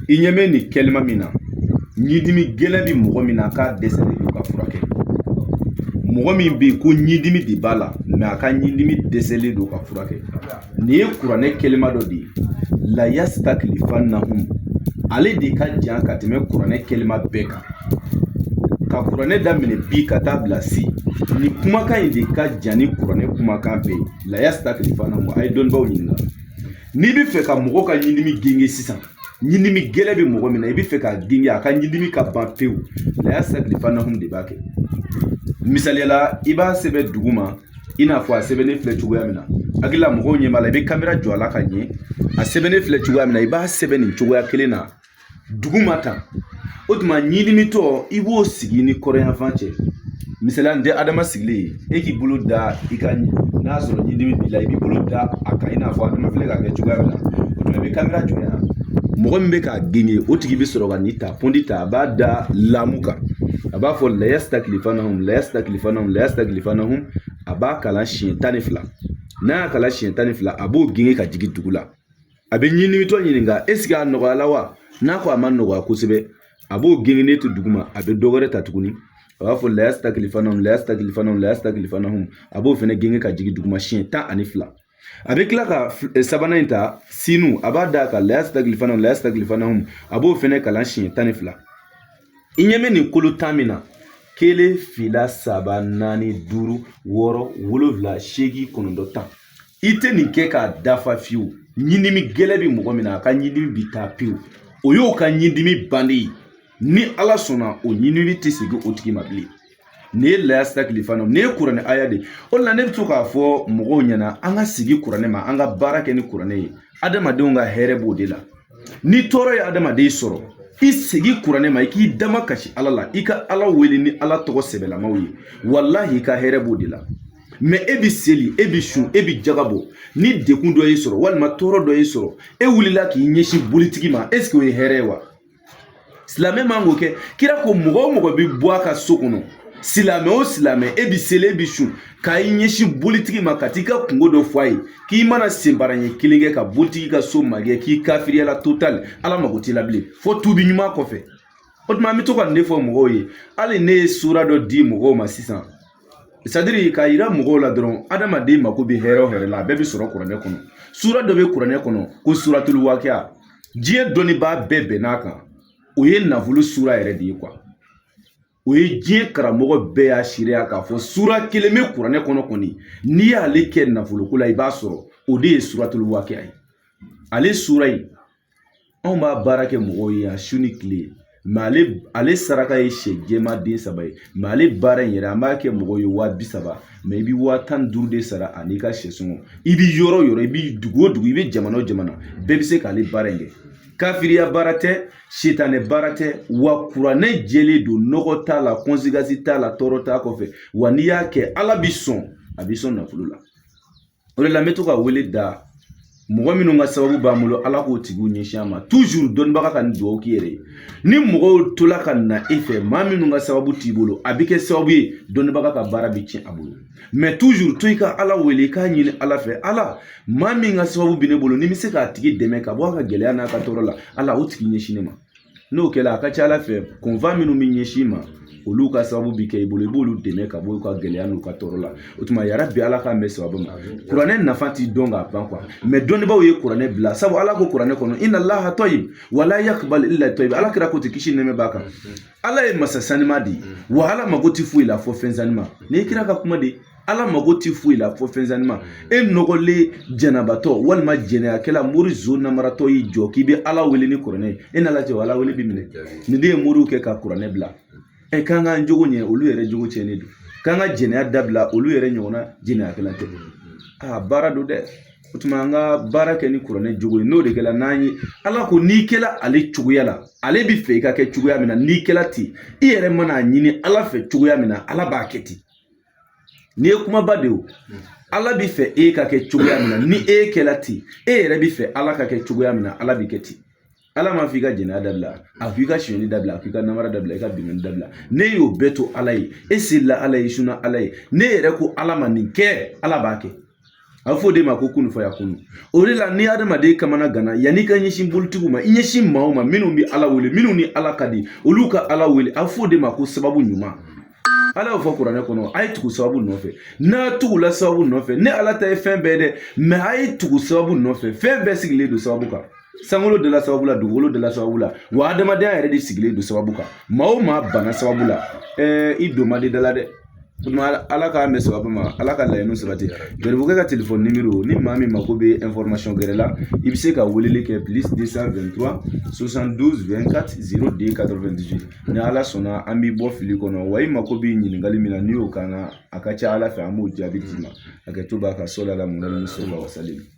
i ɲɛ bɛ nin kɛlima min na ɲidimi gɛlɛn bɛ mɔgɔ min na a ka dɛsɛlen don ka furakɛ mɔgɔ min bɛ yen ko ɲidimi de b'a la mɛ a ka ɲidimi dɛsɛlen don ka furakɛ nin ye kuranɛ kɛlima dɔ de ye layasita kilifanahum ale de ka jan ka tɛmɛ kuranɛ kɛlima bɛɛ kan ka kuranɛ daminɛ bi ka taa bila sini kumakan in de ka jan ni kuranɛ kumakan bɛɛ ye layasita kilifanahum a ye dɔnnibaw ɲininka n'i bɛ fɛ ka mɔgɔ ka ɲinimi genge sisan ɲinimi gɛlɛ bɛ mɔgɔ min na i bɛ fɛ k'a genge a ka ɲinimi ka ban pewu layasita kilifanahum de b'a kɛ misaliya la i b'a sɛbɛn duguma i n'a fɔ a sɛbɛnnen filɛ cogoya min na hakili la mɔgɔw ɲɛ b'a la i bɛ kamera jɔ a la ka ɲɛ a sɛbɛnnen filɛ cogoya min na i b'a sɛbɛn nin cogoya kelen na duguma ta o tuma ɲinimitɔ i b'o sigi ni kɔrɔn yanfan cɛ misaliya n tɛ adama sigilen ye e k'i bolo da i kan n'a sɔrɔ ɲidimi b'i la i b'i bolo da a kan i n'a fɔ adama filɛ k'a kɛ cogoya min na o tuma i bɛ kamera jɔ yan mɔgɔ min bɛ k'a genge o tigi bɛ sɔrɔ ka nin ta pɔnti ta a b'a da lamu kan a b'a fɔ layasita kilifanahum layasita kilifanahum layasita kilifanahum a b'a kalan siɲɛ tan ni fila n'a y'a kalan siɲɛ tan ni fila a b'o genge ka jigin dugu la a bɛ ɲinimitɔ ɲininka eseke a nɔgɔyala wa n'a ko a ma nɔgɔya kosɛbɛ a b'o gengelen to duguma a bɛ dɔ wɛrɛ ta tuguni a b'a fɔ layasi ta kilifana layasi ta kilifana layasi ta kilifana a b'o fɛnɛ genge ka jigin duguma siɲɛ tan ani fila a bɛ tila ka eh, sabanan in ta sinu a b'a da kan layasi ta kilifana layasi ta kilifana a b'o fɛnɛ kalan siɲɛ tan ni fila i ɲɛ bɛ nin kolo tan min na kelen fila saba naani duuru wɔɔrɔ wolonwula seegin kɔnɔntɔn tan i tɛ nin kɛ k'a dafa fiyewu ɲindimi gɛlɛ bɛ mɔgɔ min na a ka ɲindimi bi taa pewu o y'o ka ɲindimi bannen ye ni ala sɔnna o ɲindimi tɛ segin o tigi ma bilen nin ye layasita kilifana nin ye kuranɛ aya de o la ne bɛ to k'a fɔ mɔgɔw ɲɛna an ka segi kuranɛ ma an ka baara kɛ ni kuranɛ ye adamadenw ka hɛrɛ b'o de la ni tɔɔrɔ ye adamaden sɔrɔ i segi kuranɛ ma i k'i dama kasi ala la i ka ala wele ni ala tɔgɔ sɛbɛlamaw ye walahi i ka hɛrɛ b'o de la mɛ e bi seli e bi sun e bi jaga bɔ ni degun dɔ y'i sɔrɔ walima tɔɔrɔ dɔ y'i sɔrɔ e wulila k'i ɲɛsin bolitigi ma esike o ye hɛrɛ ye wa silamɛ man k'o kɛ kira ko mɔgɔ o mɔgɔ bɛ bɔ a ka so kɔnɔ silamɛ o silamɛ e bi seli e bi sun ka i ɲɛsin bolitigi ma ka t'i ka kunko dɔ fɔ a ye k'i mana senbara ɲɛ kelen kɛ ka bolitigi ka so magɛn k'i kafiriyala totali ala mago t'i la bilen fo tubi ɲuman kɔfɛ o tuma an bɛ to ka nin de fɔ mɔgɔw ye hali ne ye sura dɔ di mɔgɔw ma sisan sadiri k'a yira mɔgɔw la dɔrɔn adamaden mako bɛ hɛrɛ o hɛrɛ la a bɛɛ bɛ sɔrɔ kuranɛ kɔnɔ sura dɔ bɛ kuranɛ kɔnɔ ko suratulu wakiya diɲɛ dɔnnibaa bɛɛ bɛnn'a kan o ye nafolo sura yɛrɛ de ye o ye diɲɛ karamɔgɔ bɛɛ y'a seereya k'a fɔ sura kelen bɛ kuranɛ kɔnɔ kɔni n'i y'ale kɛ nafoloko la i b'a sɔrɔ o de ye suratulu wakiya ye ale sura in anw b'a baara kɛ mɔgɔw ye yan su ni kile ale ale saraka ye sɛ jɛman den saba ye ale baara in yɛrɛ an b'a kɛ mɔgɔw ye waa bi saba i bi waa tan ni duuru de sara ani ka sɛ sɔngɔ i bi yɔrɔ o yɔrɔ i bi dugu o dugu i bi jamana o jamana bɛɛ bi se k'ale baara in kɛ kafiriya baara tɛ sitanɛ baara tɛ wa kuranɛ jɛlen don nɔgɔ t'a la gasi t'a la tɔɔrɔ t'a kɔfɛ wa n'i y'a kɛ ala b'i sɔn a b'i sɔn nafolo la o de la n bɛ to ka wele da mɔgɔ minnu ka sababu b'an bolo ala k'o tigiw ɲɛsin an ma tuzuru dɔnnibaga ka nin dugawu k'i yɛrɛ ye ni mɔgɔw tola ka na e fɛ maa minnu ka sababu t'i bolo a bɛ kɛ sababu ye dɔnnibaga ka baara bɛ tiɲɛ a bolo mɛ tuzuru to i ka ala wele i k'a ɲini ala fɛ ala maa min ka sababu bɛ ne bolo ni n bɛ se k'a tigi dɛmɛ ka bɔ a ka gɛlɛya n'a ka tɔɔrɔ la ala o tigi ɲɛsin ne ma n'o kɛra a ka ca ala fɛ kunfa minnu bɛ ɲɛsin i ma olu ka sababu bi kɛ i bolo i b'olu dɛmɛ ka bɔ u ka gɛlɛya n'u ka tɔɔrɔ la o tuma ya rabi ala k'an bɛn sababu ma kuranɛ nafa ti dɔn ka ban kuwa mɛ dɔnnibaaw ye kuranɛ bila sabu ala ko kuranɛ kɔnɔ inna laha tɔyibu wala yakubali ila tɔyiba ala kira ko ti kisi nɛɛma b'a kan ala ye masa sanima de ye wa ala mago ti foyi la fo fɛn sanima nin ye kira ka kuma de ala mago ti foyi la fo fɛn sanima mm. e nɔgɔlen janabatɔ walima jɛnɛyakɛla mori zon namaratɔ y'i jɔ k'i bɛ ala wele ni kuranɛ ye e n'ala cɛ o ala wele bi minɛ nin de ye moriw kɛ ka kuranɛ bila ɛ k'an k'an jogo ɲɛ olu yɛrɛ jogo cɛnnen don k'an ka jɛnɛya dabila olu yɛrɛ ɲɔgɔnna jɛnɛyakɛla tɛ a baara don dɛ o tuma an ka baara kɛ ni kuranɛ jogo ye n'o de kɛra n'an ye ala ko n'i kɛra ale cogoya la ale bi fɛ i ka kɛ cogoya min na n'i kɛra ten i yɛrɛ mana a ɲini ala fɛ cogoya min na ala b'a kɛ ten nin ye kumaba de o ala bi fɛ e ka kɛ cogoya min na ni e kɛla ten e yɛrɛ bi fɛ ala ka kɛ cogoya min na ala bi kɛ ten ala b'a f'i ka jɛnɛya dabila a k'i ka sonyani dabila a k'i ka namara dabila i ka binkanni dabila n'e y'o bɛɛ to ala ye e selila ala ye sunna ala ye n'e yɛrɛ ko ala ma nin kɛ ala b'a kɛ a bɛ fɔ o de ma ko kun fayakunu o de la ni hadamaden kamanaganna yanni i ka ɲɛsin bolitigiw ma i ɲɛsin maaw ma minnu bɛ ala wele minnu ni ala ka di olu ka ala wele a bɛ fɔ o de ma ko sababu ɲuman ala y'o fɔ kuranɛ kɔnɔ a ye tugu sababu nɔfɛ n'a tugula sababu nɔfɛ ne ala ta ye fɛn bɛɛ dɛ mɛ a ye tugu sababu nɔfɛ fɛn bɛɛ sigilen don sababu kan sankolo dala sababu la dugukolo dala sababu la wa adamadenya yɛrɛ de sigilen don sababu kan maa o maa bana sababu la ɛɛ i don man di da la dɛ ala k'an bɛn sababu ma ala ka laɲini sabati garibukɛ ka telefɔni nimero ni maa min mako bɛ information gɛrɛ la i bɛ se ka weleli kɛ plus 223 72 24 02 98 ni ala sɔnna an b'i bɔ fili kɔnɔ wa i mako bɛ ɲininkali min na n'i y'o kɛ a ka ca ala fɛ an b'o jaabi d'i ma a kɛ to b'a ka so la la mun na ni so la wasalam